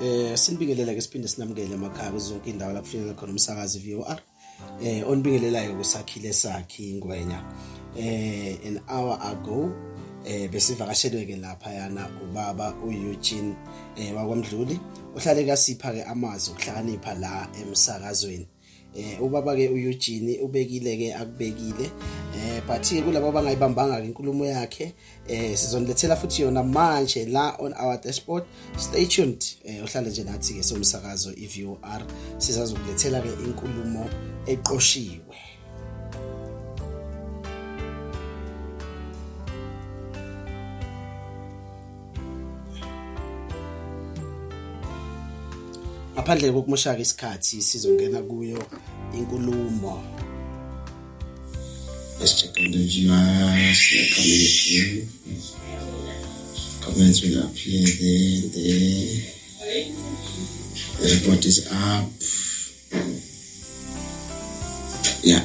eh sinibingelele ke siphinde sinamukele emakhaya kuzonke indawo lapho finyelela khona umsakazi VOR eh onibingelelayo kusakhile sakhe ingwenya eh an hour ago eh besivakashelwe ke lapha yana ubaba uEugene eh wakwamdluli uhlale kasipha ke amazwi okuhlakanipha la emsakazweni eh ubaba ke uEugene ubekile ke akubekile eh but ke kulabo abangayibambanga inkulumo yakhe eh sizonilethela futhi yona manje la on our dashboard stay tuned eh uhlale nje nathi ke somsakazo iVOR sizazokulethela ke inkulumo eqoshiwe ngaphandle kokumoshaka isikhathi sizongena kuyo inkulumo Comments will appear there, there. The report is up. Yeah.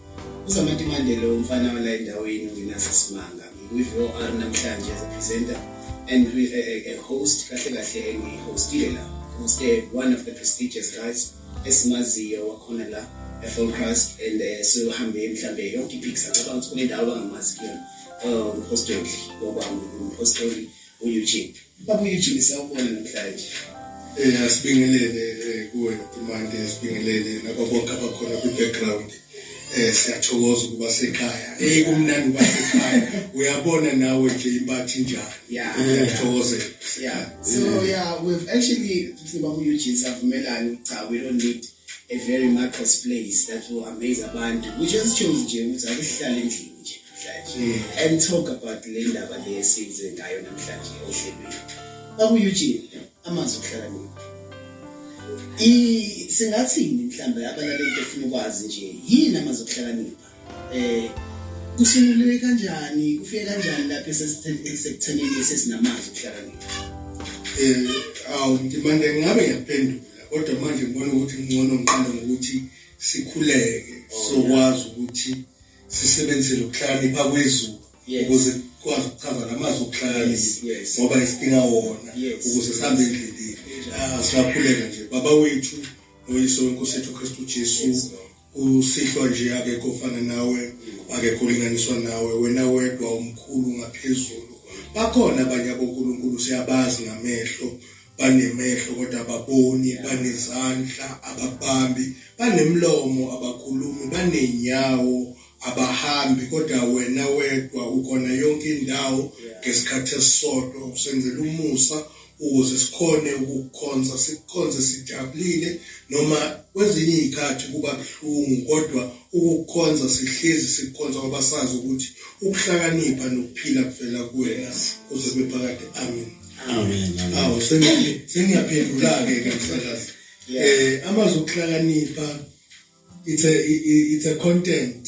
Uzamati Mandela umfana wala endaweni ungenasa simanga with OR namhlanje as a presenter and a, a, a host kahle kahle engihostile la hoste one of the prestigious guys esimaziyo wakhona la eForecast and uh, eh, sihambe mhlambe yonke ipicks acabanga ukuthi kunendawo abangamazi kuyona um, umphostoli ngoba umphostoli uEugene Baba uJimmy sawubona namhlanje. Eh asibingelele eh, kuwe Tumande asibingelele nabo bonke abakhona kwi background. Eh siyathokoza ukuba sekhaya. Eh kumnandi ukuba sekhaya. Uyabona nawe nje ibathi njani. Yeah. Uyathokoza. Yeah. So eh. yeah, we've actually siba ku Eugene savumelana ukuthi we don't need a very marketplace that will amaze abantu. We just chose nje ukuthi akuhlale endlini. namhlanje and talk about le ndaba le esize ngayo namhlanje ohlelweni babu Eugene amazwi okuhlakanipha i singathini mhlawumbe abalaleli befuna ukwazi nje yini amazwi okuhlakanipha eh kusunguliwe kanjani kufike kanjani lapho esekuthenini sesinamazwi okuhlakanipha eh awu ngimande ngabe ngiyaphendula kodwa manje ngibona ukuthi ngcono ngiqale ngokuthi sikhuleke oh, sokwazi ukuthi sisebenzise lokuhlakanipha kwezulu ukuze kwazi ukuchaza namazwi okuhlakanisa ngoba isidinga wona ukuze sihambe endleleni asilaphuleka nje baba wethu noyiso wenkosi yethu kristu jesu usihlwa nje akekho ofana nawe akekho ulinganiswa nawe wena wedwa umkhulu ngaphezulu bakhona abanye abonkulunkulu siyabazi ngamehlo banemehlo kodwa ababoni banezandla ababambi banemlomo abakhulumi banenyawo abahambi kodwa wena wedwa ukhona yonke indawo ngesikhathi esisodwa usenzela umusa ukuze sikhone ukukhonza sikhonze sijabulile noma kwezinye izikhathi kuba buhlungu kodwa ukukhonza sihlezi sikhonza ngoba sazi ukuthi ukuhlakanipha nokuphila kuvela kuwena uze bephakade amen amen awu sengiyaphendula-ke ke msakazi eh amazwi okuhlakanipha it's a it's a content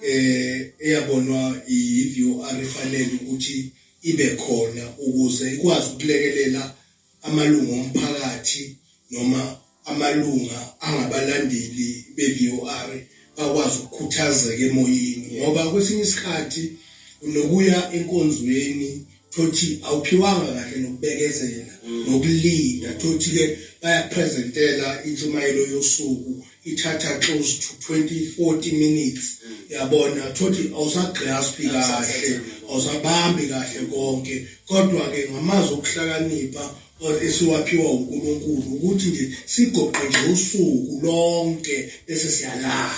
eh eyabonwa i-VOR ifanele ukuthi ibe khona ukuze ikwazi ukulekelela amalungu omphakathi noma amalunga angabalandeli be-VOR bakwazi ukukhuthazeka emoyeni ngoba kwesinye isikhathi unokuya enkonzweni thothi awuphiwanga kahle nokubekezela mm. nokulinda thothi ke bayapresentela intshumayelo yosuku ithatha close to 20 40 minutes mm. yabona thothi awusagraspi kahle awusabambi kahle konke kodwa ke ngamazwi okuhlakanipha esiwaphiwa uNkulunkulu ukuthi nje sigoqe nje usuku lonke bese siyalala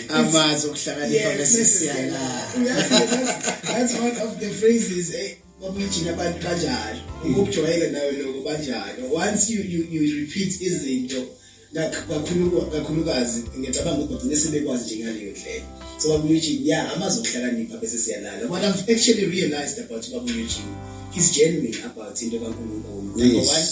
amazi okuhlakanipha bese siyalala that's one of the phrases eh babijina abantu kanjalo ukujwayela nawe lokho banjalo once you you, you repeat izinto kakhulukazi ngiyacabanga ukuthi bagcine sebekwazi nje ngaleyo ndlela so babuyujini ya amazi okuhlakanipha bese siyalala what i've actually realized about babuyujini he's genuine about into kankulunkulu number one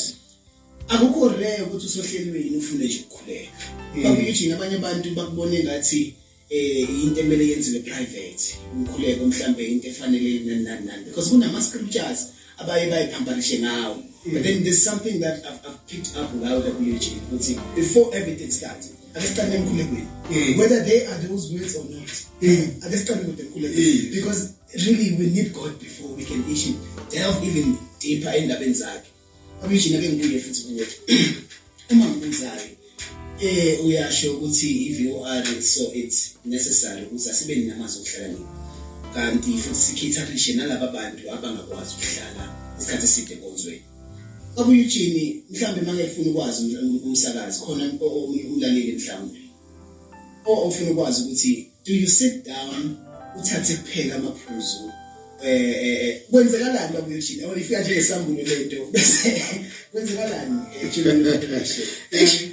akukho rare ukuthi usohlelweni ufune nje ukukhuleka hmm. babuyujini abanye abantu bakubone ngathi eh into emele yenziwe private umkhuleko mhlambe into efanele nani nani nani because kunama scriptures abaye bayiphambanishe ngawo mm. but then there's something that I've, I've picked up ngawo la kuLG ukuthi before everything starts ake siqale emkhulekweni mm. whether they are those words or not mm. ake siqale kude emkhulekweni because really we need God before we can issue delve even deeper endabeni zakhe Commissioner ke ngibuye futhi kuwe. Uma ngibuzayo eh uyasho ukuthi i-VOR so it's necessary ukuthi asibe namazwi okuhlakanipha. Kanti futhi sikhetha cishe nalaba bantu abangakwazi ukuhlala isikhathi eside konzweni. Obuye uJimmy mhlambe makefuna ukwazi umsakazi khona omunye umlaleli mhlambe. O ofuna ukwazi ukuthi do you sit down uthathe kuphela amaphuzu eh, eh, eh kwenzekalani babuyothini yabona ifika nje esambulo lento bese kwenzekalani eh, children population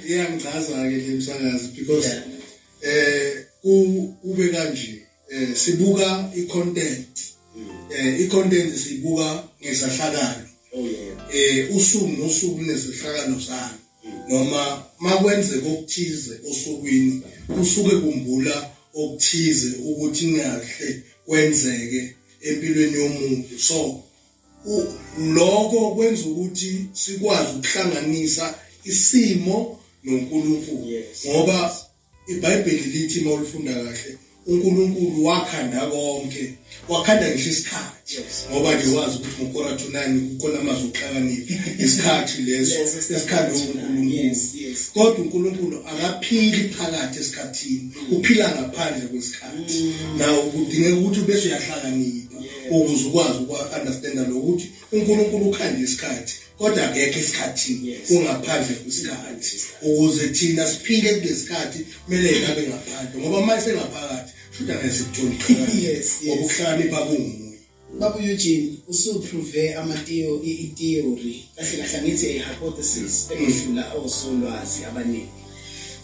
iyangichaza ke le msakazi because eh kube kanje eh sibuka i content mm. eh i content sibuka ngesahlakalo oh yeah eh usuku nosuku nesahlakalo sami noma makwenzeka okuthize osukwini kusuke kumbula okuthize ukuthi ngahle kwenzeke empilweni yomuntu so lokho kwenza ukuthi sikwazi ukuhlanganisa isimo noNkulunkulu ngoba IBhayibheli lithi uma ulifunda kahle uNkulunkulu wakhanda konke wakhanda ngisho isikhathi ngoba nje wazi ukuthi ngokora to 9 kukhona amazwi okuhlakanipha isikhathi leso esikhanda uNkulunkulu kodwa uNkulunkulu akaphili phakathi esikhathini uphila ngaphandle kwesikhathi mm. nawo kudingeka ukuthi bese uyahlakanipha ukuze ukwazi ukwa understand lokuthi uNkulunkulu ukhanda isikhathi kodwa akekho esikhathini ungaphandle kwesikhathi ukuze thina siphile kulesikhathi kumele ngabe ngaphandle ngoba uma sengaphakathi futhi angeke sikuthole yes ngoba ukuhlakanipha kungumuntu Baba Eugene usuprove amatiyo i-theory kahle kahle ngithi a hypothesis ekudlula osolwazi abaningi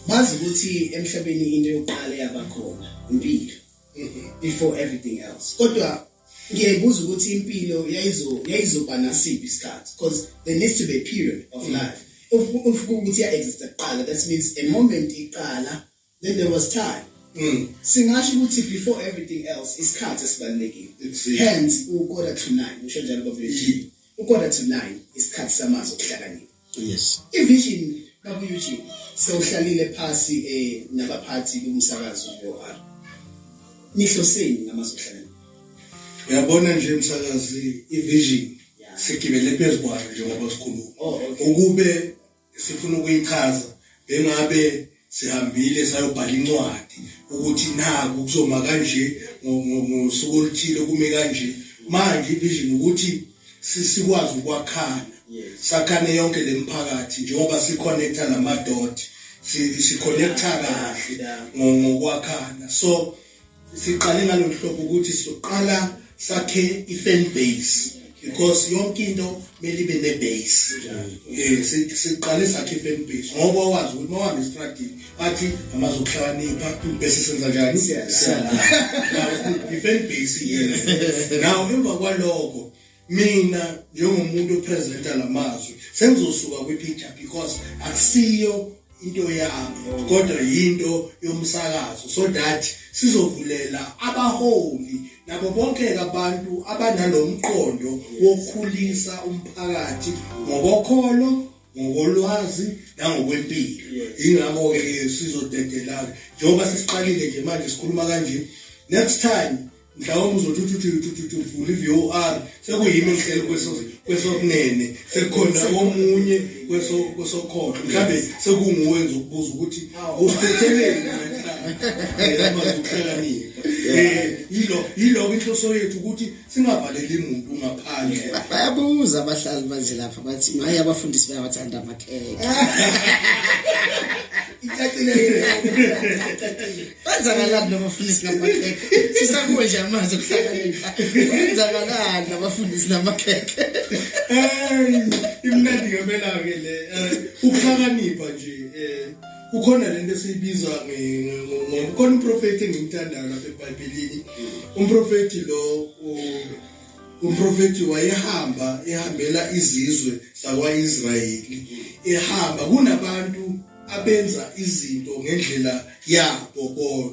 bazi ukuthi emhlabeni into yokuqala yabakhona impilo mm-hmm. before everything else kodwa ngiyebuza ukuthi impilo yayizo yayizoba nasiphi isikhathi because there needs to be a period of mm. life ufuka ukuthi ya-exista kuqala that means a moment iqala then there was time mm. singasho ukuthi before everything else isikhathi esibalulekile hence ukoda to nine usho njalo babelethiwe ukoda to nine isikhathi samazwi okuhlakanipha Yes. Ivision babu Eugene sewuhlalile phasi eh nabaphathi bomsakazo UR. Nihloseni ngamazohlala. Uyabona nje umsakazi ivision sigibele phezukwayo njengoba sikhuluma. Oh, ukube sifuna ukuyichaza bengabe sihambile sayobhala incwadi ukuthi naku kuzoma kanje ngosuku oluthile kume kanje manje ivision ukuthi sikwazi ukwakhana sakhane yonke lemiphakathi njengoba siconnecta namadot siconnecta kahle ngokwakhana so siqale ngalolu hlobo ukuthi sizoqala sakhe i-fan base because yonke into kumele ibe ne-base um siqale sakhe i-fan base ngoba wazi ukuthi uma wahamba estradini bathi amazokuhlakanipha bese senza njani i-fan base yena now emva kwaloko mina njengomuntu opresenta lamazwi sengizosuka kwi-picture because akusiyo into yami kodwa yinto yomsakazo so that sizovulela abaholi nabo bonke abantu abanalomqondo wokukhulisa umphakathi ngokokholo ngokolwazi nangokwempilo ingakho ke sizodedelana njengoba sisiqalile nje manje sikhuluma kanje next time mhlawumbe uzothi uthuthuvula i-vor sekuyimi ngihlele kwesokunene sekukhona omunye kwesokhohlo mhlawumbe sekunguwe nje ukubuza ukuthi awusetheleni amazukuhlakanipha um yiloko inhloso yethu ukuthi singavaleli muntu ngaphandle bayabuza abahlali banje lapha bathi maye abafundisi bayawathanda amakhekhe icacile Kwenzakalani nabafundisi namakhekhe? Sisakuwe nje amanzi okuhlakanipha. Kwenzakalani nabafundisi namakhekhe? Imnandi ngempela ke le. Eh, ukuhlakanipha nje eh kukhona lento esiyibiza ngomkhona umprofeti engimthandayo lapha eBhayibhelini. Umprofeti lo umprofeti wayehamba ehambela izizwe zakwa-Israyeli ehamba kunabantu abenza izinto ngendlela yabo kodwa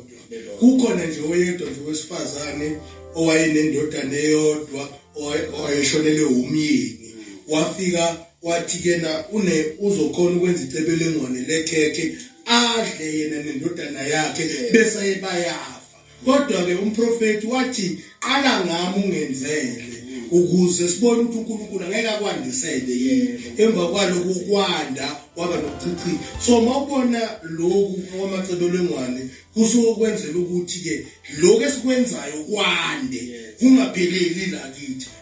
kukhona nje oyedwa nje wesifazane owayenendodana eyodwa owayeshonele wumyeni wafika wathi kena une uzokhona ukwenza icebelengwane lekhekhe adle yena nendodana yakhe bese ebayafa Kodwa-ke umprofethi wathi qala ngami ungenzele ukuze sibone ukuthi uNkulunkulu angeke akwandisele yini emva kwaloko kwanda kwaba nokuchichika so mawubona lokhu kwamacebelengwane kusuke kwenzela ukuthi-ke lokhu esikwenzayo kwande kungapheleli la kithi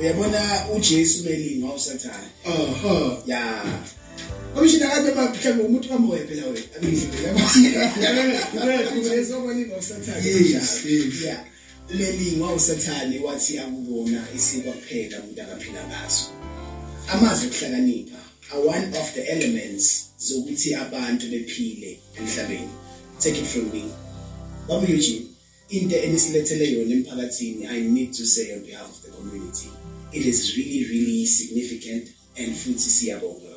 uyabona uJesu melinga usathane oho ya Abishina kade baphika ngomuntu kamoya phela wena abishina yabo ngalezokulinga usathane yes yeah umelingwa usathane wathi akubona isikwa kuphela umuntu akaphila ngaso amazwi okuhlakanipha are one of the elements zokuthi abantu bephile emhlabeni take it from me babu Eugene into enisilethele yona emphakathini i need to say on behalf of the community it is really really significant and futhi siyabonga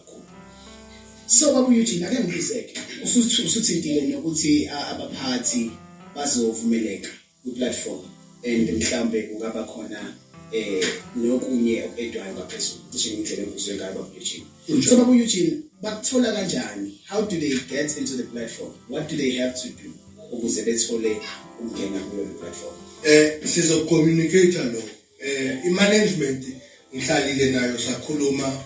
so baba Eugene ake ngibuzeke usuthi usuthintile nokuthi abaphathi bazovumeleka ku platform and mhlambe kungaba khona eh nokunye okudwayo ngaphezulu cishe indlela engizwe ngayo baba Eugene so baba Eugene bakuthola kanjani how do they get into the platform what do they have to do ukuze bethole ukungena kuyo le platform eh sizocommunicate lo eh imanagement ngihlalile nayo sakhuluma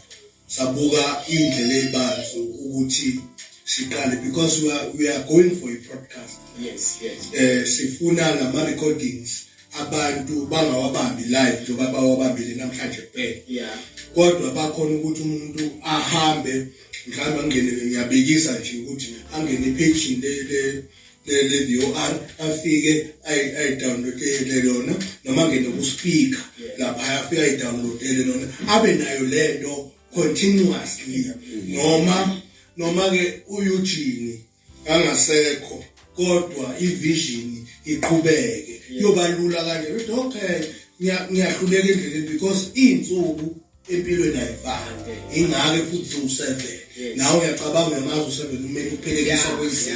sabuka indlela ebanzi ukuthi siqale because we are, we are going for a podcast yes yes eh sifuna lama recordings abantu bangawabambi live njengoba bawabambile namhlanje kuphela yeah kodwa bakhona ukuthi umuntu ahambe mhlawumbe angene ngiyabekisa nje ukuthi angene ipage le le le le VR afike ay ay download le lona noma ngene ku speaker lapha afike ay download le lona abe nayo lento continuously noma noma ke uyujini angasekho kodwa ivision iqhubeke kuyoba lula kanje ukuthi okay ngiyahluleka endleleni because iy'nsuku empilweni ayifani ingake futhi useven nawe uyacabanga uyamazi useven kumele uphelekisa kwezinye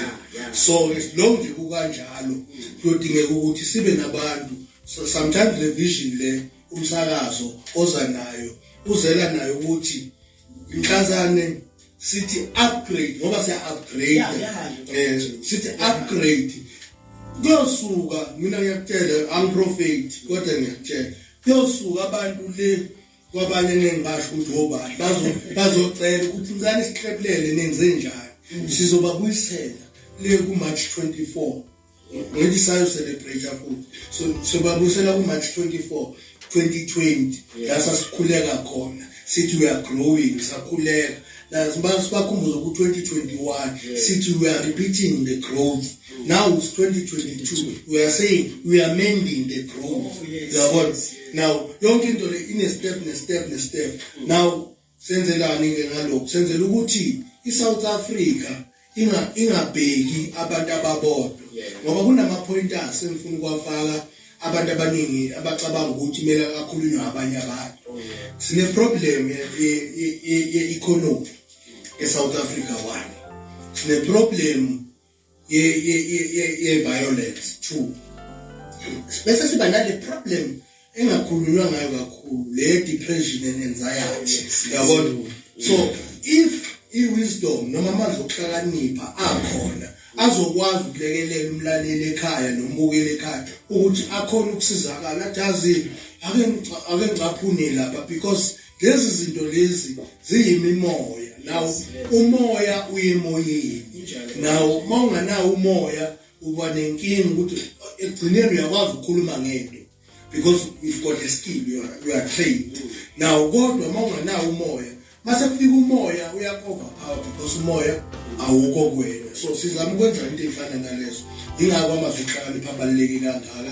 so lo nje kukanjalo kuyodingeka ukuthi sibe nabantu sometimes le vision le umsakazo oza nayo uzela nayo ukuthi mhlazane sithi upgrade ngoba siya upgrade eh sithi upgrade kuyosuka mina ngiyakutshela angiprofeti kodwa ngiyakutshela kuyosuka abantu le kwabanye nengibasho ukuthi obani bazocela ukuthi ncane siqephulele nenze njani sizobabuyisela le ku-march 24 Ngeke sayo celebrate futhi. So so babusela ku March 24 2020 la sasikhuleka khona sithi we are growing sakhuleka la sibakhumbuza ku 2021 sithi we are repeating the growth now it's 2022 we are saying we are mending the growth oh, yabona now yonke into le ine step ne step ne step now Senzelani ke ngalokho? Senzela ukuthi iSouth Africa inga ingabheki abantu ababodwa. Ngoba kunama pointers engifuna ukwafaka abantu abaningi abacabanga ukuthi mele akhulunywe abanye abantu. Oh, Sine problem ye economy eSouth Africa wani. Sine problem ye-violence two bese siba nale problem engakhulunywa ngayo kakhulu le depression and anxiety yabona so if i-wisdom noma amazwi okuhlakanipha akhona azokwazi ukulekelela umlaleli ekhaya nombukeli ekhaya ukuthi akhona ukusizakala athi azi ake ake ngicaphune lapha because lezi zinto lezi ziyimimoya nawo umoya uyemoyeni nawo uma unganawo umoya uba nenkinga ukuthi ekugcineni uyakwazi ukukhuluma ngento because you've got a skill you are, you are trained now kodwa uma unganawo umoya mase kufika umoya uyakhova power because umoya awukho kwena so sizama ukwenza into efana nalezo ingakho amazwi hlakani phabaluleke kangaka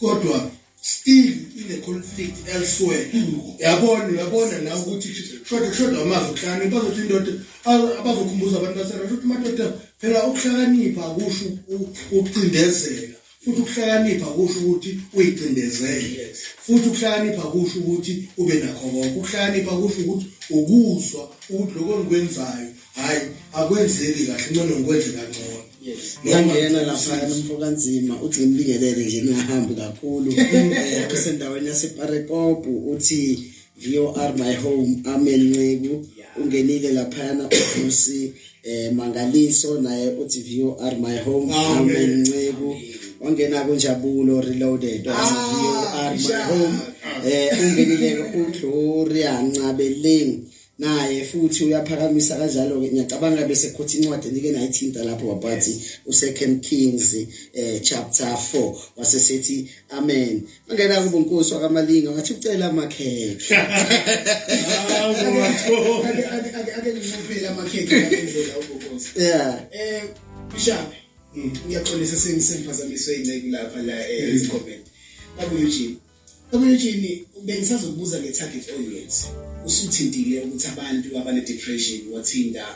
kodwa still ine conflict elsewhere yabona yabona la ukuthi shoda shoda amazwi hlani bazothi indoda abazokhumbuza abantu basera ukuthi madoda phela ukuhlakanipha akusho ukucindezela futhi ukuhlakanipha kusho ukuthi uyicindezele futhi ukuhlakanipha kusho ukuthi ube nakho konke ukuhlakanipha kusho ukuthi ukuzwa ukuthi lokho engikwenzayo hayi akwenzeki kahle ncono ngikwenze kangcono ngiyangena laphaya nomfokanzima uthi ngimbingelele nje ningahambi kakhulu eh, usendaweni yaseparekopu uthi VOR my home amen nceku ungenile laphayana uvusi eh mangaliso naye uthi VOR my home amen nceku wangena kunjabulo reloaded wathi VOR my home eh ungenile uGloria Ncabeleng naye futhi uyaphakamisa kanjalo-ke ngiyacabanga bese khotha incwadi enike nayithinta lapho wabathi usecond kings eh, chapter 4 wasesethi amen angena kubo nkosi wakamalinga wathi ucela amakhekhe ake ngincupile amakhekhe ngendlela ubonkosi yeah eh bishop mm. ngiyaxolisa sengisemphazamiswe inceku lapha la eh, mm. ezikhomeni babuye ujini Omunye bengisazokubuza nge-target audience usuthintile ukuthi abantu abane-depression wathinta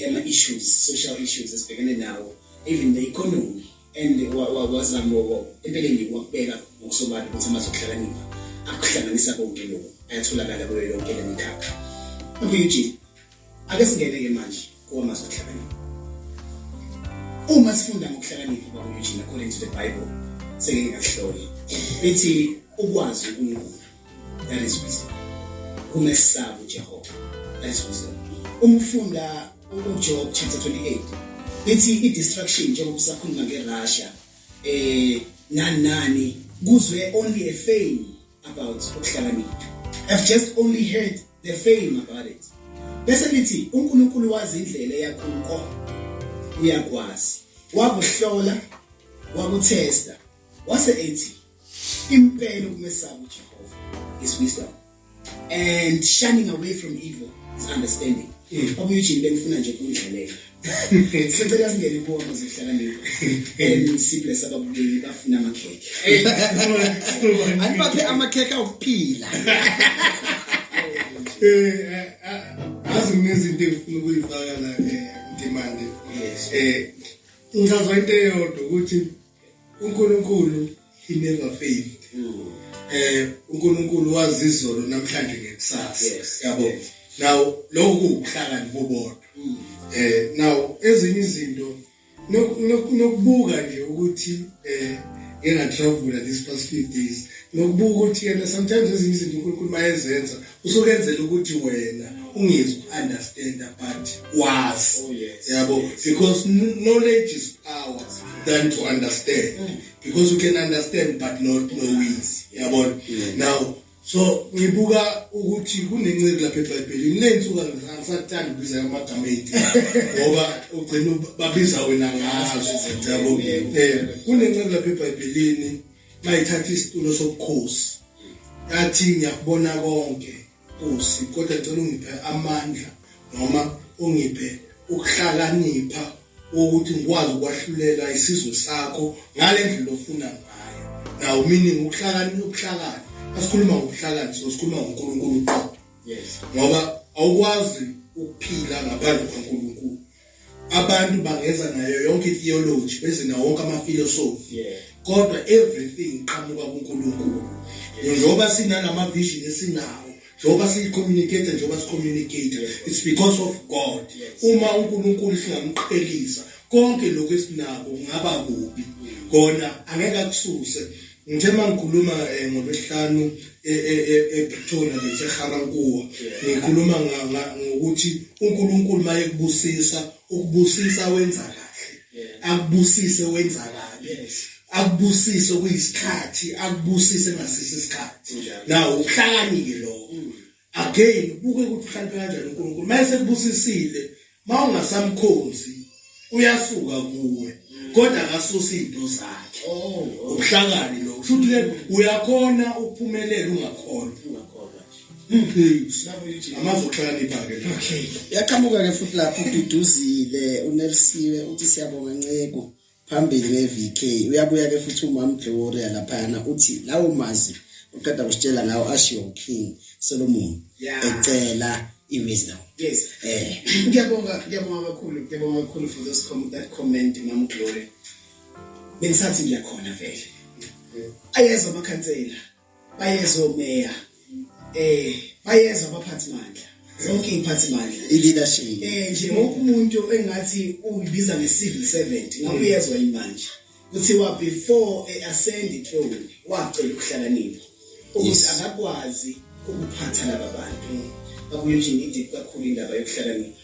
ama-issues social issues esibhekene nawo even the economy and wazama empeleni wakubeka ngokusobala ukuthi amazwe okuhlakanipha akuhlanganisa konke lokhu ayatholakala kuyo yonke le mikhakha omunye ake singene-ke manje kuwamazwi ahlakanipha uma sifunda ngokuhlakanipha kwakunyujini according to the bible sengeke ngakuhlole lithi ukwazi unkulunkulu that is wisdom umesaba ujehova that is wisdom uma ufunda ujob chapter 28 lithi i-distraction njengoba usakhuluma ngerussia um eh, nani nani kuzwe only a fame about ukuhlakanipha i've just only heard the fame about it bese lithi uNkulunkulu wazi indlela eyakhulu kona uyakwazi wakuhlola wakuthesta wase ethi impela ukumesaba uJehova is wisdom and shining away from evil is understanding mm. obuyujini bengifuna nje kundlalela sicela singene kuwona zohlakanipho and sibless ababukeli bafuna amakhekhe anibaphe amakhekhe okuphila eh azi ngezinto engifuna ukuyifaka la eh, ndimande eh ngizazwa into eyodwa ukuthi uNkulunkulu he never failed mm. eh uNkulunkulu wazi izolo namhlanje ngekusasa yabo now lokhu ukuhlakani bobodwa mm. eh now ezinye izinto nokubuka nje ukuthi eh engatravula this past few days nokubuka ukuthi yena sometimes ezinye izinto uNkulunkulu mayezenza usukenzela ukuthi wena ungizi understand but was oh, yes. yabo because knowledge is power than to understand mm. because you can understand but not know is yabona mm. now so ngibuka ukuthi kunenceku lapha eBhayibhelini lensuka ngisathanda ukubiza amagama ethu ngoba ugcina babiza wena ngazo yabo eh kunenceku lapha eBhayibhelini mayithatha isitulo sobukhosi yathi ngiyakubona konke Nkosi kodwa ngicela ungiphe amandla noma ungiphe ukuhlakanipha ukuthi ngikwazi ukwahlulela isizwe sakho ngale ndlela ofuna ngayo nawo meaning ukuhlakani ukuhlakani asikhuluma ngokuhlakani so sikhuluma ngoNkulunkulu qo yes ngoba awukwazi ukuphila ngaphandle kwaNkulunkulu abantu bangeza nayo yonke itheology beze nawo wonke amafilosofi yeah. kodwa everything iqhamuka kuNkulunkulu njengoba sinalama vision esinawo njengoba siyicommunicate njengoba sicommunicate it's because of God uma uNkulunkulu singamqhelisa konke lokho esinako kungaba kubi kona angeke akususe Ngithe uma ngikhuluma eh, ngoLwesihlanu eh, eh, ePretoria ngiseGarankuwa ngikhuluma ngokuthi uNkulunkulu uma ekubusisa ukubusisa wenza kahle akubusise wenza kabi akubusise kuyisikhathi akubusise ngasisi isikhathi nawo ubuhlakani-ke lokho mm. again ubuke ukuthi uhlale kanjani uNkulunkulu mayese kubusisile mawungasamkhonzi uyasuka kuwe kodwa akasusa izinto zakhe oh, oh. ubuhlakani lo kusho ukuthi uyakhona ukuphumelela ungakhona amazohlakanipha-ke okay yaqhamuka-ke futhi lapho ududuzile unelisiwe uthi siyabonga nceko phambili nge-vk uyabuya ke futhi umam gloria laphayana uthi lawo mazwi uqeda kusitshela ngawo ashiwo uking solomon ecela i-wisdom yes eh ngiyabonga ngiyabonga kakhulu ngiyabonga kakhulu for those com that comment mam gloria bengisathi ngiyakhona vele ayezwa amakhansela bayeza omeya eh bayeza abaphathi mandla zonke iy'phathi mandla i-leadership eh nje wonke umuntu engathi uyibiza nge-civil servant ngabe uyezwa yini manje kuthiwa before e-ascend ithrone wacela ukuhlakanipha ukuthi akakwazi ukuphatha laba bantu bakuyo nje ngidip kakhulu indaba yokuhlakanipha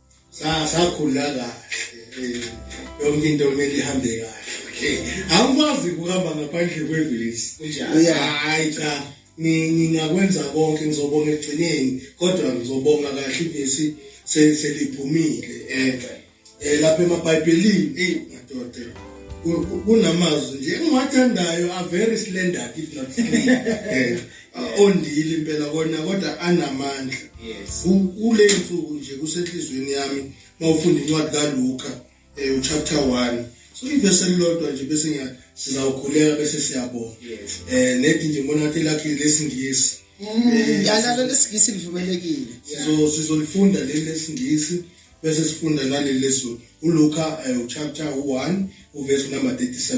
sakhula kahle eh, yonke into kumele ihambe kahle okay awukwazi ukuhamba ngaphandle kwevesi kunjani hayi cha ngingakwenza konke ngizobonga ekugcineni kodwa ngizobonga kahle ivesi seliphumile um lapha emabhayibhelini eyi madoda kunamazwi nje engiwathandayo are very slender if not ondile impela kona kodwa anamandla yes kule nsuku nje kusenhlizweni yami mawufunda incwadi kaLuka eh uchapter 1 so ivese lilodwa nje bese ngiya sizawukhuleka bese siyabonga yes eh nethi nje ngibona ukuthi lakhe lesingisi mm, eh, yalalo lesingisi livumelekile so sizolifunda leli lesingisi bese sifunda naleli lesu uLuka eh, uchapter 1 uverse number 37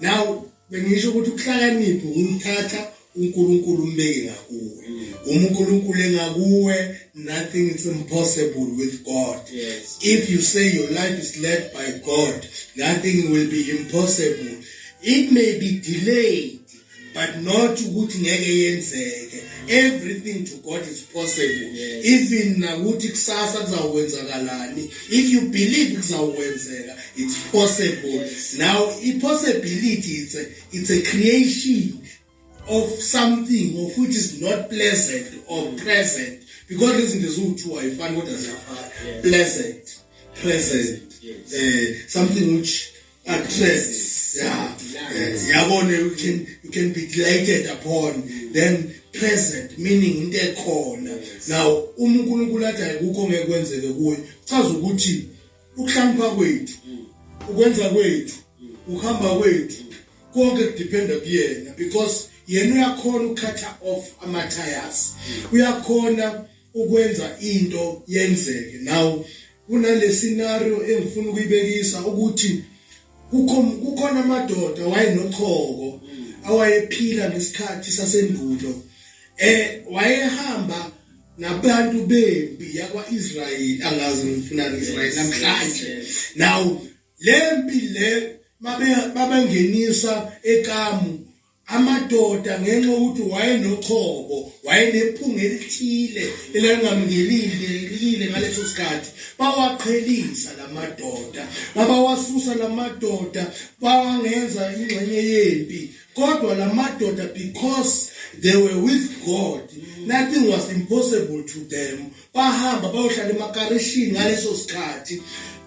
now bengisho ukuthi ukuhlakanipha ukuthatha uNkulunkulu umbeke ngakuwe uma uNkulunkulu engakuwe nothing is impossible with God yes. if you say your life is led by God nothing will be impossible it may be delayed but not ukuthi ngeke yenzeke everything to god is possible yes. even nakuthi kusasa kuzawukwenzakalani if you believe kuzawukwenzeka it's possible yes. now i-possibility it's a, it's a creation of something of which is not pleasant or present because lezi zinto ziwu-two ayifani kodwa ziyafana pleasant present yes. uh, something which actress yeah yes. yabona you can you can be delighted upon then present meaning into ekhona now uma uNkulunkulu athi ayikho ngeke kwenzeke kuwe chaza ukuthi ukuhlampa kwethu ukwenza kwethu ukuhamba kwethu konke kudependa kuyena because yena uyakhona ukukhatha off ama tires uyakhona ukwenza into yenzeke now kunale scenario engifuna ukuyibekisa ukuthi kukho kukhona amadoda wayenochoko awayephila ngesikhathi sasendulo eh wayehamba nabantu bempi yakwaIsrayeli angazi ngifuna Israel namhlanje now lempi le mabengenisa ekamu amadoda ngenxa yokuthi wayenochobo wayenephunga elithile elangamngelile ngaleso sikhathi bawaqhelisa la madoda babawasusa la madoda bawangenza ingxenye yempi kodwa la madoda because they were with god nothing was impossible to them bahamba bayohlala emakarishini ngaleso sikhathi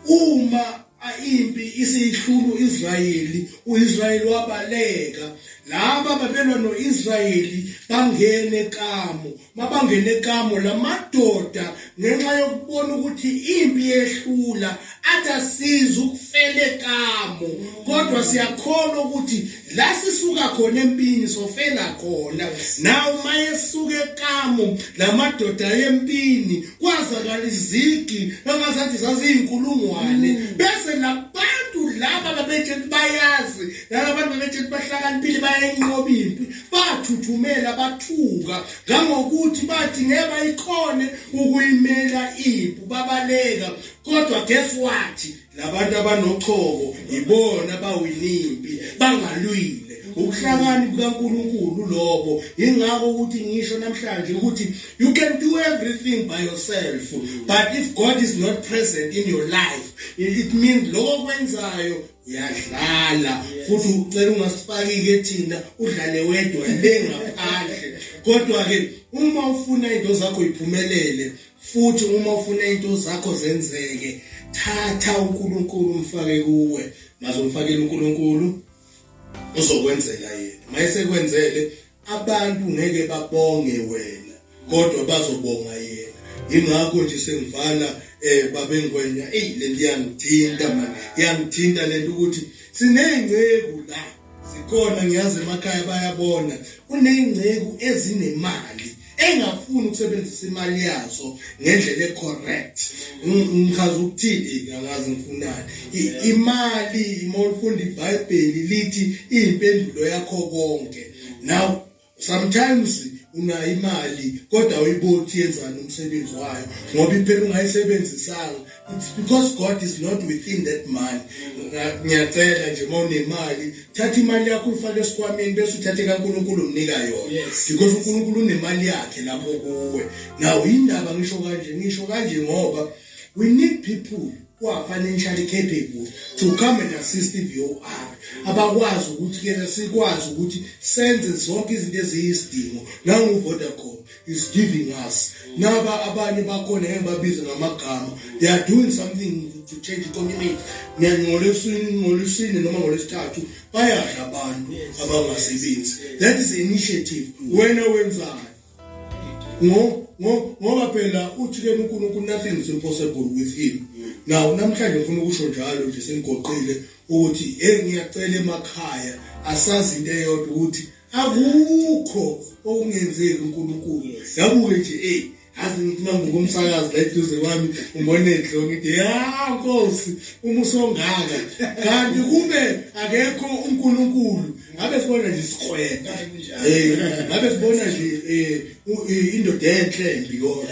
uma impi isiyihlulu Israyeli uIsrayeli wabaleka laba babelwa noIsrayeli bangene kamo mabangene kamo lamadoda ngenxa yokubona ukuthi impi yehlula athi asiza ukufele kamo kodwa siyakholwa ukuthi la sisuka khona empini sofela khona nawo mayesuka ekamu lamadoda yempini kwazakala izigi engazathi zaziyizinkulungwane mm. bese nabantu laba babethe bayazi nalabantu babethe bahlakaniphile bayenqoba impi bathuthumela bathuka ngangokuthi bathi ngeke bayikhone ukuyimela impu babaleka kodwa guess what labantu abanochoko yibona bawina impi bangalwile ukuhlakani kukaNkuluNkulu lobo ingakho ukuthi ngisho namhlanje ukuthi you can do everything by yourself but if God is not present in your life it means lokho kwenzayo uyadlala futhi ucela ungasifaki-ke thina udlale wedwa le ngaphandle kodwa-ke uma ufuna into zakho iphumelele futhi uma ufuna into zakho zenzeke thatha uNkulunkulu umfake kuwe mazomfakela uNkulunkulu uzokwenzela yena mayesekwenzele abantu ngeke babonge wena kodwa bazobonga yena ingakho nje sengivana eh babengwenya ey lentiyangithinta manje yangithinta lento ukuthi sineyinceku la zikhona ngiyazi emakhaya bayabona kuney'ngceku ezinemali engafuni ukusebenzisa imali yazo ngendlela ecorrect ngichaza ukuthini angazi ngifunani imali uma ulifunda ibhayibheli lithi iyimpendulo yakho konke now sometimes unayo imali kodwa uyibuka ukuthi yenzani umsebenzi wayo ngoba impela ungayisebenzisanga it's because god is not within that money ngiyacela nje uma unemali thatha imali yakho uyifake esikhwameni bese uthathe kankulunkulu umnika yona because unkulunkulu unemali yakhe lapho kuwe naw yindaba ngisho kanje ngisho kanje ngoba we need people kwa financially capable to come and assist VOR abakwazi ukuthi kena sikwazi ukuthi senze zonke izinto eziyisidingo nangu Vodacom is giving us naba abanye bakhona engibabiza ngamagama they are doing something to change the community ngolesini ngolesini noma ngolesithathu bayadla abantu abangasebenzi that is initiative wena wenzani ngo ngo ngoba phela uthi ke uNkulunkulu nothing is impossible with him now namhlanje ngifuna ukusho njalo nje sengigoqile ukuthi hey ngiyacela emakhaya asazi into eyodwa ukuthi akukho okungenzeki uNkulunkulu yabuke nje hey azi ngifuna ngokumsakazi la eduze kwami umonedle ngithi ya nkosi uma usongaka kanti kube akekho uNkulunkulu ngabe sibona nje isikweta eh ngabe sibona nje eh, indoda enhle mbi kodwa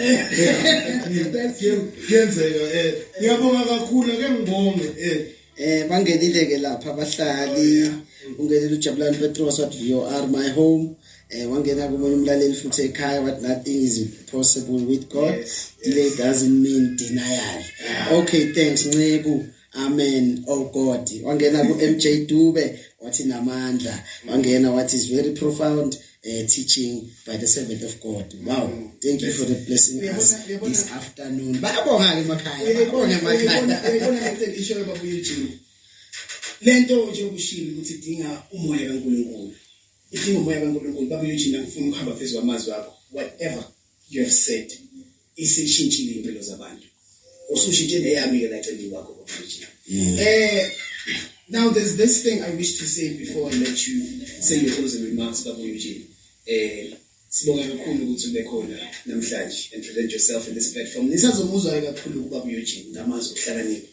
kuyenzeka eh ngiyabonga kakhulu ke ngibonge eh eh bangenile ke lapha abahlali ungenile ujabulani petros wathi vr my home eh wangena komunye umlaleli futhi ekhaya what nothing is possible with god yes, yes. delay doesn't mean denial yeah. okay thanks nceku Amen. Oh God. Wangena ku MJ Dube wathi namandla. Wangena wathi is very profound uh, teaching by the servant of God. Wow. Thank you for the blessing us this afternoon. Bayabonga ke emakhaya. Bayabonga emakhaya. Bayabonga ngeke isho baba uJesu. Lento nje ukushilo ukuthi dinga umoya kaNkulunkulu. Idinga umoya kaNkulunkulu. Baba uJesu ngifuna ukuhamba phezulu amazwi akho. Whatever you have said isishintshile impilo zabantu usushintshe neyami ke lacela iwakho kuphijile mm. eh Now, there's this thing I wish to say before I let you say your closing remarks, Babu Eugene. Eh, sibonga kakhulu ukuthi ube khona namhlanje and present yourself in this platform. Nisazomuzwa kakhulu uBabu Eugene ngamazi okuhlakanipha.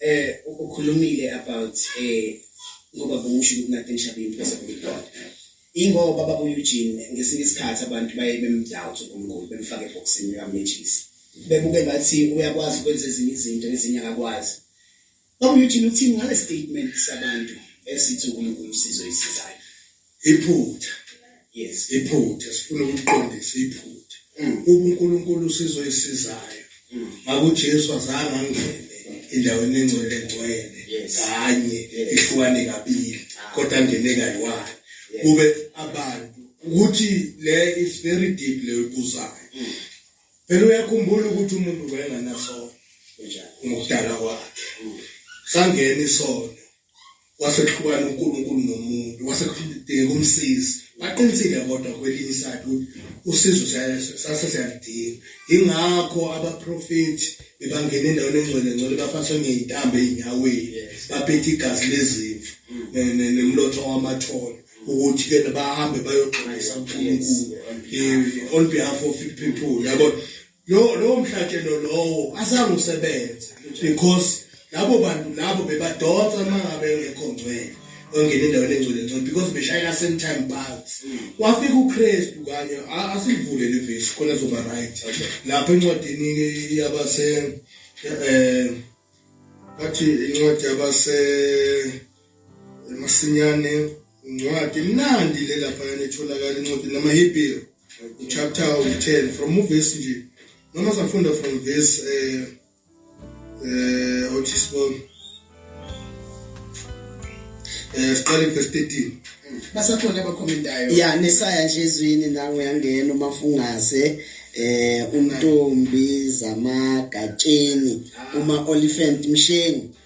Eh ukhulumile about eh ngoba bungisho ukuthi nakhe nishabe impresa kulikhona. Ingoba baba Eugene ngesinye isikhathi abantu baye bemdoubt uNkulunkulu bemfake eboxini kamejisi. Bebuke ngathi uyakwazi ukwenza ezinye izinto ezinye akakwazi. Baba Eugene uthini ngale statement sabantu esithi uNkulunkulu usizo isizayo? iphutha yes iphutha sifuna ukuqondisa iphutha mm. uma uNkulunkulu sizoyisizayo mm. makuJesu azange angene endaweni engcwele ngcwele kanye ehlukane kabili ah. kodwa angene kayiwani kube abantu ukuthi le is very deep le ubuzayo mm. phela uyakhumbula ukuthi umuntu wayenganasono ngokudala kwakhe sangena isono wasehlukana uNkulunkulu nomuntu wasekudingeka umsizi baqinisile kodwa kwelinye isayidi ukuthi usizo sase siyalidinga ingakho abaprofethi bebangena endaweni engcwele ngcwele bafaniswe ngey'ntambo ey'nyaweni baphethe igazi lezimvu nemlotho wamathole ukuthi ke bahambe bayoxwayisa uNkulunkulu eh, on behalf of people yabo lo lo mhlatshelo lowo azange usebenze because labo bantu labo bebadonsa mangabe engekho ngcwele ongena endaweni engcwele ngcwele because beshayela same time bags wafika uKristu kanye asivule le verse khona zoba right lapha encwadini yabase eh bathi incwadi yabase masinyane Incwadi imnandi le laphayana etholakala incwadi namaHebrew chapter 10 from verse nje noma safunda from verse eh eh othi sibone eh siqale verse 13 basakhona abakhomentayo ya nesaya nje ezwini nangu yangena uma fungaze eh umntombi zamagatsheni uma olifant mshengu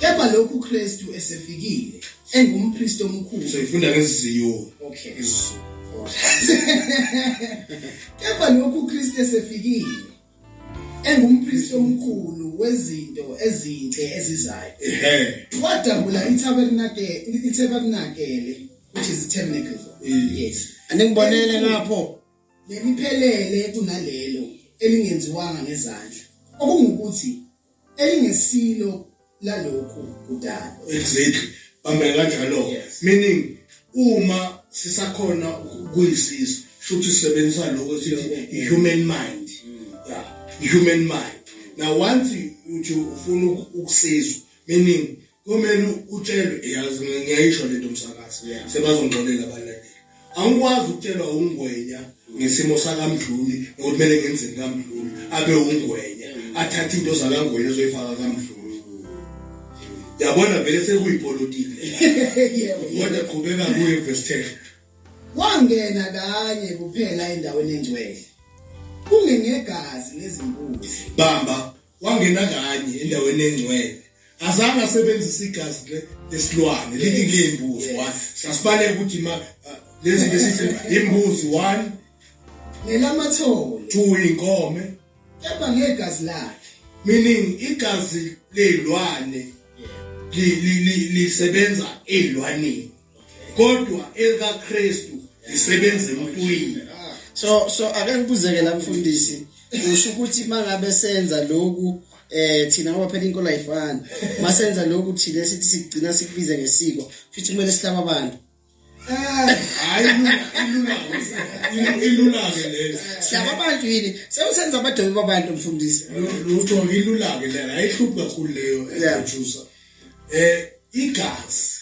Kepha lokhu Kristu esefikile engumpriest omkhulu. So ifunda ngesiziyo. Okay. Isiziyo. Kepha lokhu Kristu esefikile engumpriest omkhulu wezinto ezinhle ezizayo. Wadabula itabernakele, itabernakele which is tabernacle. Yes. Anengibonele lapho. Lemiphelele kunalelo elingenziwanga ngezandla. Okungukuthi elingesilo lalokhu kudala exactly bambe kanjalo meaning uma sisakhona ukuyisizwe futhi sisebenzisa lokho sithi human mind yeah human mind now once uthi ufuna ukusizwa meaning kumele utshelwe yazi ngiyayisho lento msakazi sebazongixolela abalandeli angikwazi ukutshelwa ungwenya ngesimo sakamdluli nokuthi kumele ngenzeni kamdluli abe ungwenya athathe into zakangwenya ezoyifaka kamdluli yabona vele sekuyipolitiki kodwa qhubeka kuye vestele wangena kanye kuphela endaweni engcwele kungengegazi lezimbuzi bamba wangena kanye endaweni engcwele azange asebenzise igazi lesilwane lithi kuleyimbuzi one sasibaleka ukuthi ma uh, lezi besithi imbuzi one nelamathole two inkome kepha ngegazi lakhe meaning igazi lezilwane lisebenza ezilwaneni kodwa elikaKristu lisebenza emntwini so so ake ngibuzeke la mfundisi usho ukuthi mangabe senza lokhu eh thina ngoba phela inkolo ayifani masenza lokhu thina sithi sigcina sikubize ngesiko futhi kumele sihlaba abantu eh, hayi ilula ilula ke lezi sihlaba abantu yini sewusenza abadobi babantu mfundisi lutho ilula ke lena ayihlupha kuleyo ejusa eh igazi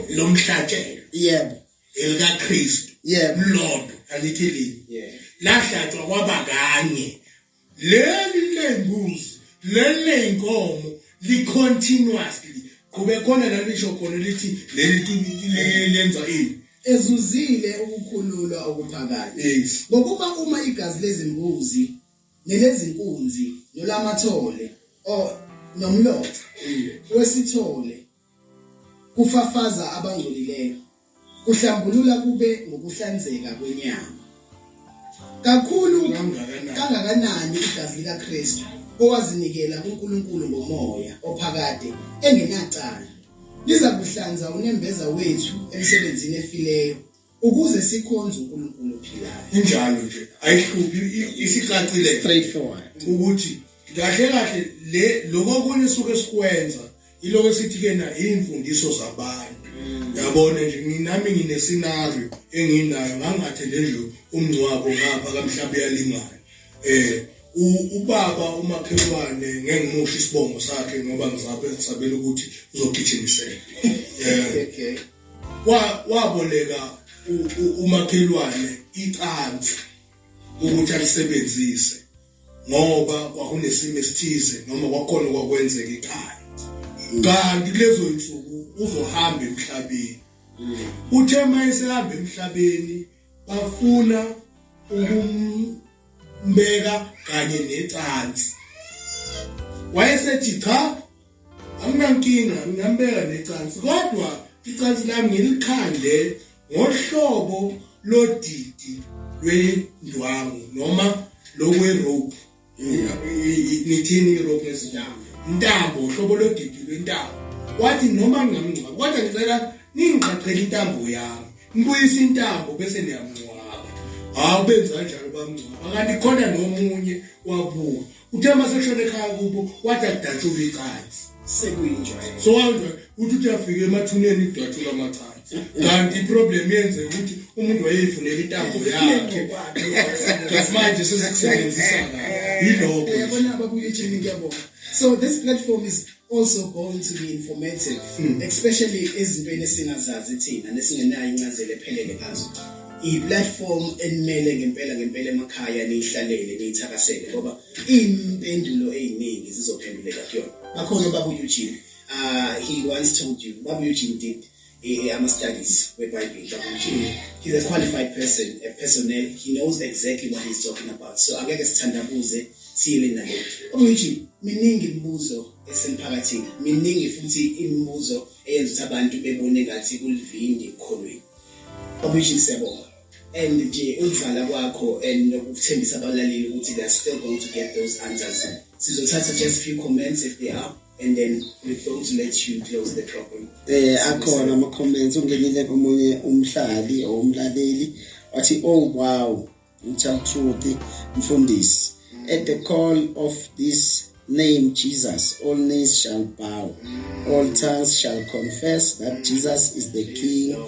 lomhlatshelo yebo elika Kristu yebo lodwa angithi lini yebo lahlatshwa kwaba kanye leli lembuzi leli lenkomo li continuously kube khona la lisho khona lithi leli lenza ini ezuzile ukukhululwa okuphakade ngokuba uma igazi lezimbuzi nelezinkunzi nolamathole o nomlotha wesithole kufafaza abangcolileyo, kuhlambulula kube ngokuhlanzeka kwenyama. Kakhulu kangakanani igazi likaKristu owazinikela kuNkulunkulu ngomoya ophakade engenacala liza kuhlanza unembeza wethu emsebenzini efileyo ukuze sikhonze uNkulunkulu ophilayo injalo nje ayihluphi isicacile straightforward ukuthi kahle kahle le lokho kunye suke sikwenza iloko esithi ke na imfundiso zabantu yabona nje nginami ngine scenario enginayo ngangathe nje umngcwabo ngapha kamhlawumbe yalingana eh ubaba umakhelwane ngengimusha isibongo sakhe ngoba ngizabela ukuthi uzogijimisela eh waboleka umakhelwane icansi ukuthi alisebenzise ngoba kwakunesimo esithize noma kwakhona kwakwenzeka ekhaya kanti kulezo nsuku uzohamba emhlabeni uthe uma esehamba emhlabeni bafuna ukumbeka kanye necansi wayesethi cha anginankinga nginambeka necansi kodwa icansi lami ngilikhandle ngohlobo lodidi lwendwangu noma lokwerope ngithini irope ezindawo intambo uhlobo lodidi lwentambo wathi noma ngingamngcwaba kodwa ngicela ningigqaqhele intambo yami ngibuyise intambo bese niyamngcwaba hawu benza kanjalo bamngcwaba kanti khona nomunye wabuka uthe uma sekushona ekhaya kubo wathi akudatshulwe icansi sekuyinjwayelo so wawunjwa uthi uthi afike emathuneni idatshulwa amacansi kanti iproblem yenze ukuthi umuntu wayeyifunela intambo yakhe just manje sesekusebenzisa kahle yilokho yabona ababuye ejeni kuyabona so this platform is also go into the informative hmm. especially ezintweni esingazazi thina nesingenayo incazelo ephelele ngazo i-platform enimele ngempela ngempela emakhaya niyihlalele niyithakasele ngoba iyimpendulo eziningi zizophenduleka kuyona bakhona babu Eugene uh, he once told you babu Eugene did eh, ama-studies webhayibheli ukuthi he's a qualified person a personnel he knows exactly what he's talking about so angeke sithandabuze siyele nalokho okuyithi miningi imibuzo esemphakathini miningi futhi imibuzo eyenza ukuthi abantu bebone ngathi kulivindi ekukholweni okuyithi siyabonga and nje ukudlala kwakho and nokuthembisa abalaleli ukuthi they are still going to get those answers sizothatha just few comments if they are and then we don't let you close the problem eh akhona ama comments ungenile komunye umhlali or umlaleli wathi oh wow ngithanda ukuthi mfundisi at the call of this name Jesus, all knees shall bow, all tongues shall confess that Jesus is the King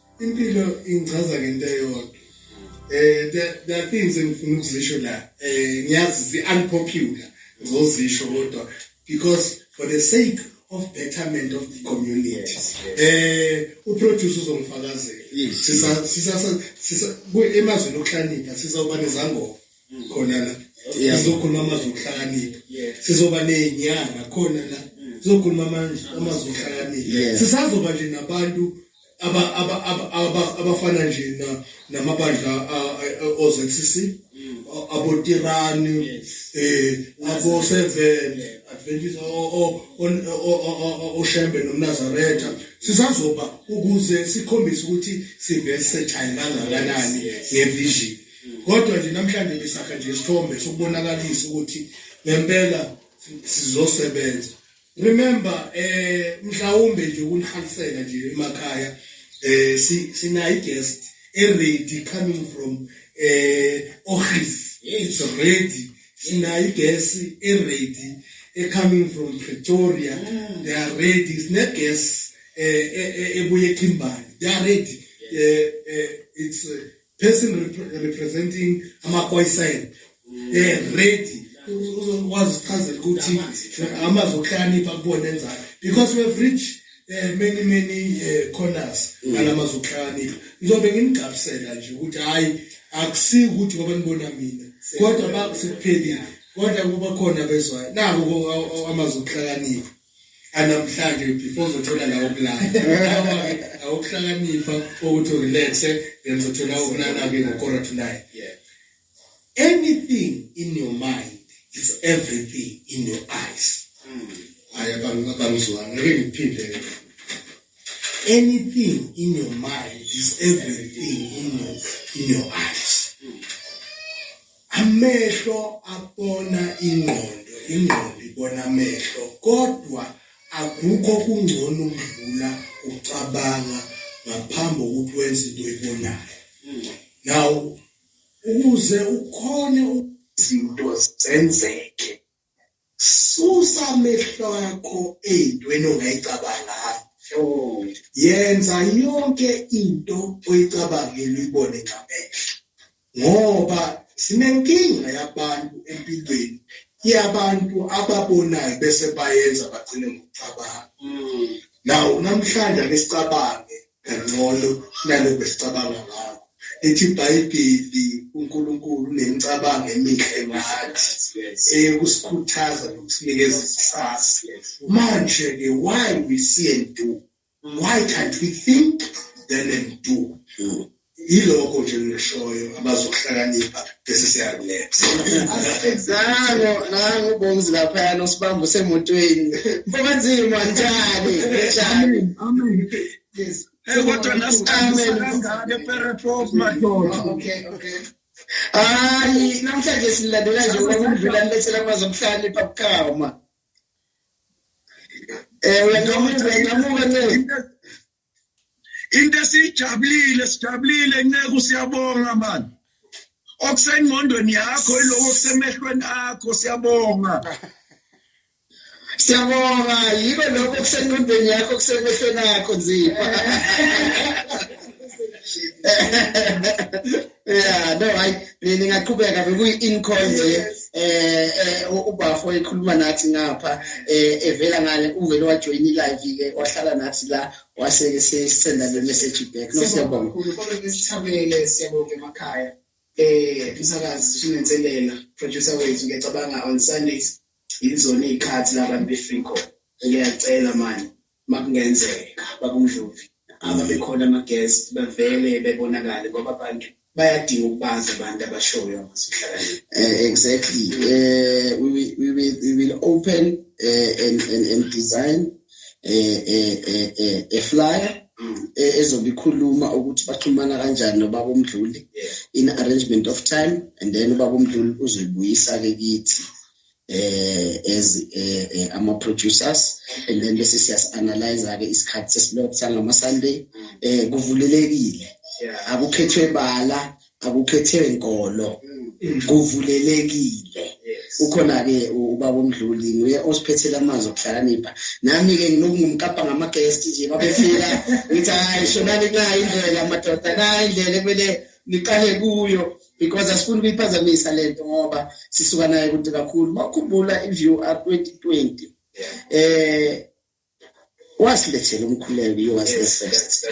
impilo ingichaza ngento eyodwa eh the the things engifuna ukuzisho la eh ngiyazi zi unpopular ngizozisho kodwa because for the sake of betterment of the community eh uproduce uzongifakazela sisa sisa sisa emazweni okuhlanika sisawuba nezangoma khona la sizokhuluma amazwi okuhlakanipha sizoba nenyanga khona la sizokhuluma amazwi okuhlakanipha sisazoba nje nabantu abafana nje namabandla oZCC abotirani eh abo seven adventist oshembe nomnazaretha sisazoba ukuze sikhombise ukuthi siversatile kangakanani ngevision kodwa nje namhlanje ngisakha nje isithombe sokubonakalisa ukuthi ngempela sizosebenza remember eh mhlawumbe nje ukunihalisela nje emakhaya eh sinayi guest eready coming from eh ohis it's ready sinayi guest eready coming from Pretoria mm. they are ready sine guest eh, eh, eh ebuye eKimberley they are ready eh, eh it's uh, person representing amaphoyisayini um eh, ready uzokwazi ukuchazela ukuthi amazwi okuhlakanipha kubona enzani because we have reached eh many many eh, corners mm. ngalamazwi okuhlakanipha ngizobe ngimgabisela nje ukuthi hayi akusi ukuthi ngoba nibona mina kodwa bakusiphelile kodwa kuba khona bezwayo nako amazwi okuhlakanipha anamhlanje before uzothola la ukulala awukuhlakanipha ukuthi urelaxe then uzothola ukulala-ke ngokora to nine anything in your mind is everything in your eyes hmm. hayi abangizwanga ngeke ngiphinde anything in your mind is everything in your, in your eyes amehlo abona ingqondo ingqondo ibona amehlo kodwa akukho kungcono ukudlula ucabanga ngaphambi kokuthi wenze into oyibonayo now ukuze ukhone izinto zenzeke susa amehlo akho eyintweni ongayicabanga yenza yonke into oyicabangile uyibone ngamehlo ngoba sinenkinga yabantu empilweni yabantu ababonayo bese bayenza bagcine ngokucabanga mm. naw namhlanje ake sicabange kangcono kunalokho esicabanga ngakho lithi ibhayibheli unkulunkulu unemicabango emihle ngathi eyekusikhuthaza nokusinikeza ikusasa manje-ke why we see and do why can't we think then and do Yilokho nje engishoyo abazokuhlakanipha bese siyakuletha. Nango nango ubongizi laphayana usibamba usemotweni. Mfokanzima njani? Njani? Amen. Yes. Hey, kodwa nasiqambe kangaka ePerepov madoda. Okay, okay. Hayi, namhlanje silandela nje ukudlula nilethela amazi okuhlakanipha bukhama. Eh, uyangamuka, uyangamuka ncela. into esiyijabulile sijabulile nceku siyabonga mani okusengqondweni yakho iloko kusemehlweni akho siyabonga siyabonga yiko lokho kusenqondweni yakho kusemehlweni akho nzima Yeah, no, hayi ningaqhubeka bekuyi-incall nje eh, eh ubafo ekhuluma nathi ngapha eh evela ngale uvele wajoin i-live ke wahlala nathi la wase ke sisenda le message back no siyabonga kakhulu kodwa besithabele siyabonga emakhaya eh umsakazi sinenselela producer wethu ngiyacabanga on Sundays yizona izikhathi labantu befree call ngiyacela manje makungenzeka babundlovu aba bekhona ama-guest bavele bebonakale ngoba abantu bayadinga ukubazi abantu abashoyo abasuhlakaniphile uh, eh, exactly uh, we, will, we, will, we will open uh, and, and, and design uh, uh, uh, uh, a flyer mm. ezobe ikhuluma ukuthi baxhumana kanjani nobaba omdluli in arrangement of time and then ubaba omdluli uzoyibuyisa-ke kithi eh as eh, eh, ama producers and then bese siyas analyze ke isikhathi sesilokhu sangama Sunday eh kuvulelekile akukhethwe bala akukhethwe inkolo mm. kuvulelekile ukhona ke ubaba omdluli nguye osiphethela amanzi okuhlakanipha nami ke nginokungumkapa ngama guest nje babefika ngithi hayi shonani nayi indlela madoda nayi indlela kumele niqale kuyo because asifuni ukuyiphazamisa le nto ngoba sisuka naye kude kakhulu uma ukhumbula i-view r twenty twenty um wasilethela umkhuleko iyo wasilesest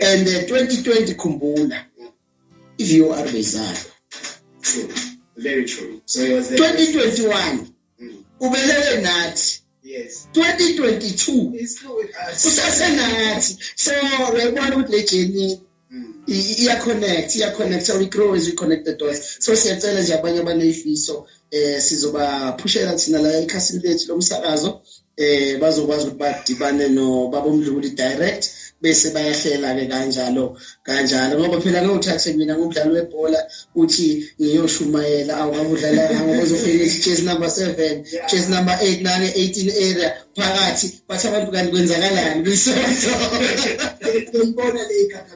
and eh, twenty twenty khumbula i-view r beyizalwa twenty twenty one ubelele nathi yes 2022 usasenathi so uyayibona ukuthi le journey mm. iya-connect iya-connect so we grow as we connect the dots so siyacela nje abanye abaneyifiso um eh, sizobaphushela thina la ekhasini lethu lomsakazo eh bazokwazi ukuthi badibane nobaba uMdluli direct bese bayahlela ke kanjalo kanjalo ngoba phela ngewuthathe mina ngudlalo webhola uthi ngiyoshumayela awukudlala ngokuzofika chase number 7 chase number 8 nane 18 area phakathi bathi abantu kanti kwenzakalani kwisonto ngibona le ikhanda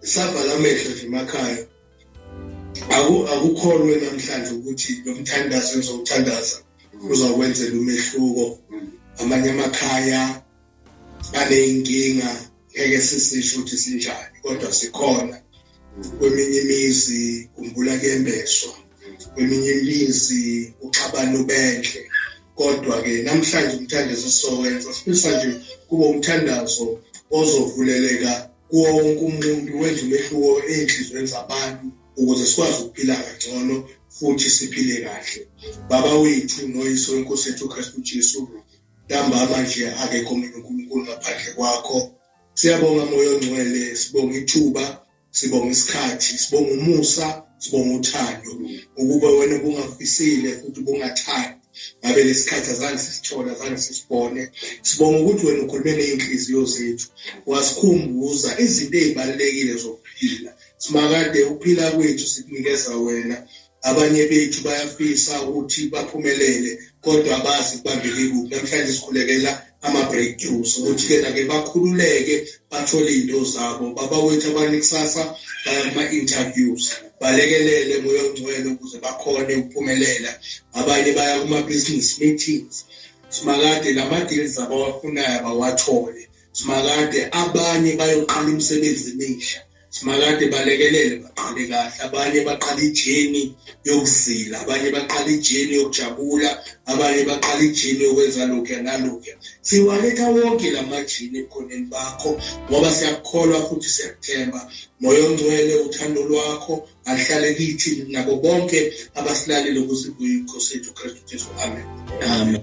savala amehlo nje emakhaya akukholwe namhlanje ukuthi lo mthandazo engizowuthandaza uzakwenzela umehluko amanye amakhaya aney'nkinga ngeke sisisho ukuthi sinjani kodwa sikhona kweminye imizi kumbula kuyembeswa kweminye imizi uxabana ubenhle kodwa-ke namhlanje umthandazo sizowenza sifisa nje kube umthandazo ozovuleleka kuwo wonke umuntu wenza umehluko ey'nhliziyweni zabantu ukuze sikwazi ukuphila kangcono futhi siphile kahle baba wethu noyiso wenkosi yethu ukristu jesu ntambama nje akekho mina unkulunkulu ngaphandle kwakho siyabonga moya ongcwele sibonga ithuba sibonga isikhathi sibonga umusa sibonga uthando ukuba wena ubungafisile futhi ubungathandi ngabe lesikhathi azange sisithole azange sisibone sibonga ukuthi wena ukhulume ney'nhliziyo zethu wasikhumbuza izinto ey'balulekile zokuphila simakade ukuphila kwethu sikunikeza wena abanye bethu bayafisa ukuthi baphumelele kodwa abazi kubambeke kuphi namhlanje sikhulekela ama-breakthroughs ukuthi-ke nake bakhululeke bathole iy'nto zabo baba wethu abanye kusasa baya kuma-interviews balekelele moya ongcwele ukuze bakhone ukuphumelela abanye baya kuma-business meetings simakade la ma-deals abawafunayo abawathole simakade abanye bayoqala imisebenzi emisha Simakade balekelele baqale kahle abanye baqala ijeni yokuzila abanye baqala ijeni yokujabula abanye baqala ijeni yokwenza lokhu nalokhu siwaletha wonke la majini ekhoneni bakho ngoba siyakukholwa futhi siyakuthemba moya ongcwele uthando lwakho aluhlale kithi nabo bonke abasilalele ukuze kuyinkhosi yethu kristu jesu amen amen